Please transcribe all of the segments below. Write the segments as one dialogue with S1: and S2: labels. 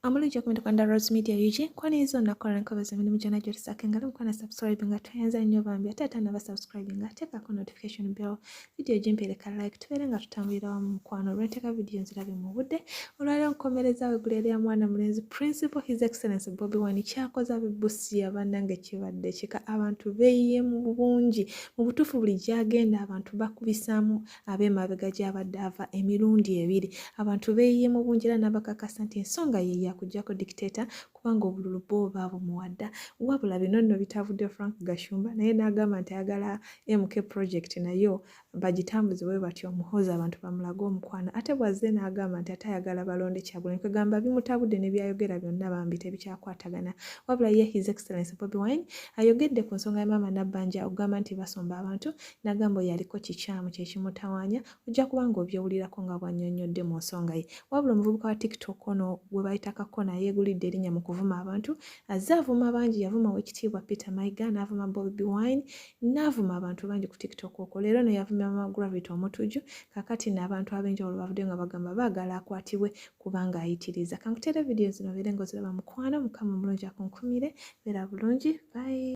S1: Omulungi okumenda kwa Rose Media UG kwani izo nakola nkobezo mimi mjana jori sake ngalo mkwana subscribe nga tuenza nyo bambi ate ata naba subscribe nga teka ko notification bell video jimpele ka like tubere nga tutambulira wa mkwano rweteka video nzirabe mu budde olwale nkomereza we gulele ya mwana mulenzi principal his excellence Bobby Wine kyakoza bibusi ya banange kibadde kika abantu beye mu bungi mu butufu buli jagenda abantu bakubisamu ab'emabega gy'abadde ava emirundi ebiri abantu beeyiye mu bungi era n'abakakasa nti ensonga ye yakugyako dikiteeta kubanga obululu bwo baabumuwadda wabula bino nno bitavudde frank gashumba naye n'agamba nti ayagala mk project nayo bagitambuze bwe batyo omuhoozi abantu bamulage omukwano ate bwazze n'agamba nti ate ayagala balonde kyagulanyi kwegamba bimutabudde ne byayogera byonna bambi tebikyakwatagana wabula ye his excellence bobi wine ayogedde ku nsonga ya maama nabbanja okugamba nti basomba abantu Nagamba oyo aliko kikyamu kye kimutawaanya ojja kuba ng'obyewulirako nga bw'annyonnyodde mu nsonga ye. Wabula omuvubuka wa TikTok ono gwe bayita Kakona yeegulidde erinnya mu kuvuma abantu. Azze avuma bangi, yavuma Oweekitiibwa Peter Mayiga n'avuma Bobi Wine n'avuma abantu bangi ku TikTok okwo. Leero ono yavumye Maama Gravity Omutujju, kaakati nno abantu ab'enjawulo bavuddeyo nga bagamba baagala akwatibwe kubanga ayitiriza kankutere vidiyo zino beere nga oziraba mukwano mukama omulungi akunkumire beera bulungi bayi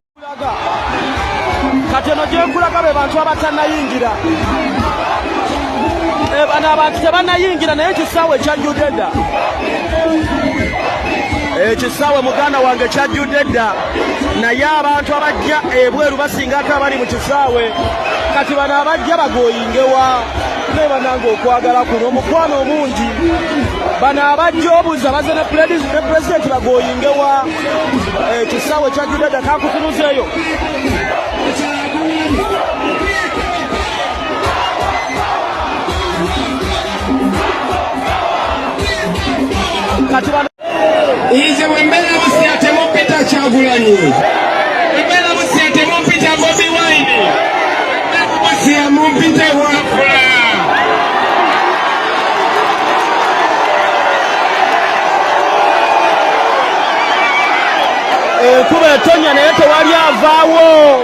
S2: kati eno gyenkulaga be bantu abatanayingira eh, bano abantu tebanayingira naye ekisaawe ekyajjudde dda ekisaawe eh, muganda wange kyajjudde dda naye abantu abajja ebweru basingako abali mu kisaawe kati bano abajja bagoyingewa banange okwagala kuno omukwano omungi bano abajja obuza baze ne pulezidenti bagoyinge wa ekisaawe eh, kya judada kakutunuzeeyo kati Ize
S3: wembera busiate mupita kyagulanyi wembera busiate mupita bobi wine busia mupita wafula
S2: enkuba eh, etonya naye tewali avaawo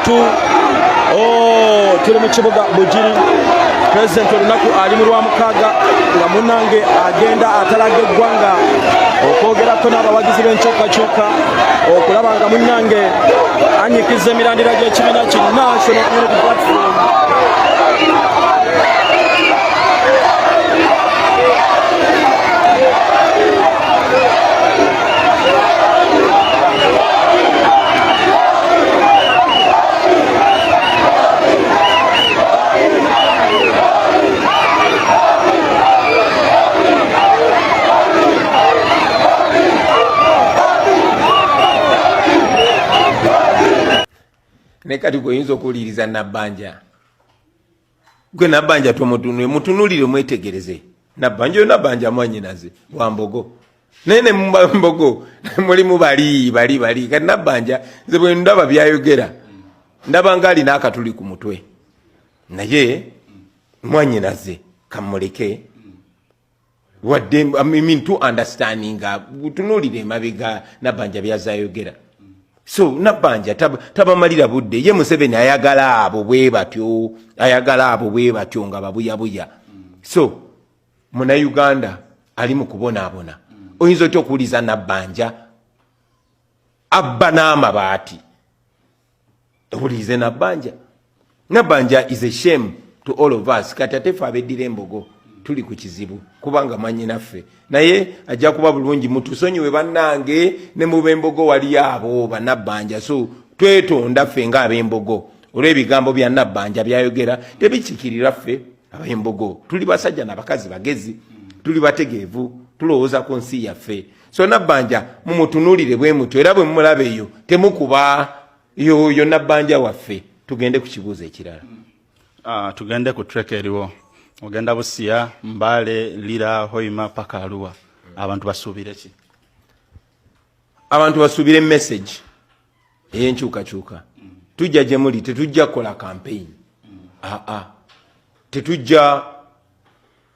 S2: tu oh, tuli mu kibuga bugiri pulezidenti olunaku ali mu lwamukaaga nga munange agenda atalaga eggwanga okwogerako n'abawagizi b'enkyukakyuka okulaba nga munange anyikiza emirandira gy'ekibiina ki national unity platform
S4: naye kati gweoyinza okuwuliriza nabbanja gwe nabanja tomutunule mutunulire mwetegereze nabanja oyo nabanja mwanyinaze wambogo naye ne mbogo mulimu bali bali bali kati nabanja nze bwe ndaba byayogera ndaba nga alina akatuli ku mutwe naye mwanyinaze kamuleke wadde I mean, to understanding tunuulira emabega nabanja byazayogera so nabanja tabamalira tab budde ye museveni ayagala abo bwe batyo ayagala abo bwe batyo nga babuyabuya so munauganda ali mu kubonaabona oyinza otya okuwuliza nabanja abba n'amabaati Obulize nabanja. Nabanja is a shame to all of us. Kati ate fe abeddira embogo tuli ku kizibu kubanga manyi naffe. Naye ajja kuba bulungi mutusonyiwe bannange ne mu bembogo wali abo banabanja. So twetonda ffe nga abembogo. Olw'ebigambo bya nabanja byayogera tebikikirira ffe abembogo. Tuli basajja na bakazi bagezi. Tuli bategeevu. Tulowooza ku nsi yaffe. so nabbanja mumutunulire bwe mutyo era bwe mumulaba eyo temukuba yoyo nabbanja waffe tugende
S5: ku kibuuzo
S4: ekirala uh,
S5: tugende
S4: ku trek
S5: eriwo
S4: ogenda
S5: busiya mbale lira hoima paka aluwa abantu basuubire ki
S4: abantu basuubire message eyenkyukakyuka tujja gye muli tetujja kukola campaign aa tetujja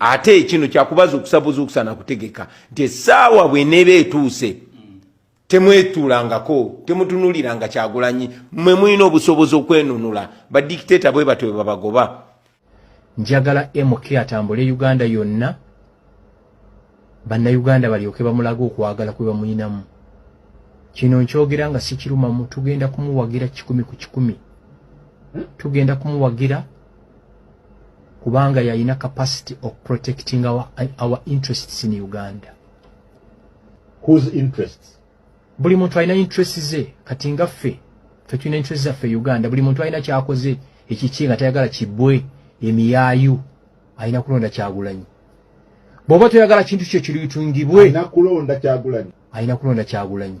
S4: ate kino kyakubaza okusabuzuukusa nakutegeka nti esaawa bweneeba etuuse temwetuulangako temutunuliranga kyagulanyi mwe mulina obusobozi okwenunula badikiteta bwe batyo bebabagoba njagala
S6: mk atambule uganda yonna bannayuganda balyoke bamulaga okwagala kwe bamulinamu kino nkyogera nga sikirumamu tugenda kumuwagira kikumi ku kikumi tugenda kumuwagira kubanga yalina capacity of protecting our, our interests in uganda
S7: whose interests buli muntu alina
S6: interest ze kati nga ffe fe tulina interest zaffe e uganda buli muntu alina kyakoze ekiki nga tayagala kibwe emiyaayu alina kulonda kyagulanyi bwoba toyagala kintu kyo kiruyitungibwe alina kulonda kyagulanyi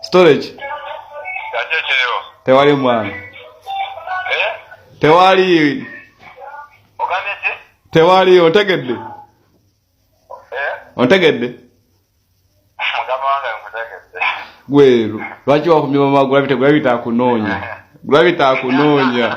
S8: storage tewali mwana eh? tewali tewali ontegedde eh? ontegedde gweru lwaki wakumya mama gulabite gulabite akunoonya gulabite akunoonya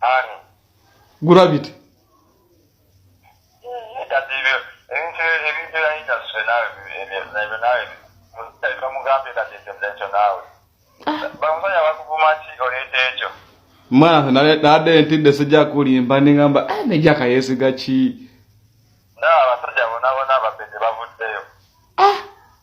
S8: Ani?
S9: Gravity.
S8: mwana nade ntidde sijja kulimba ningamba eh, nejaka yesiga ki nabasajja
S9: bonabona ababede bavuddeyo ah!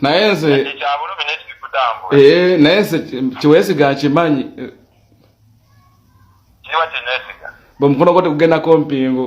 S9: naye nze eh,
S8: naye nze kiwesiga nkimanyi
S9: bwemukono gwo tegugendako
S8: mpingu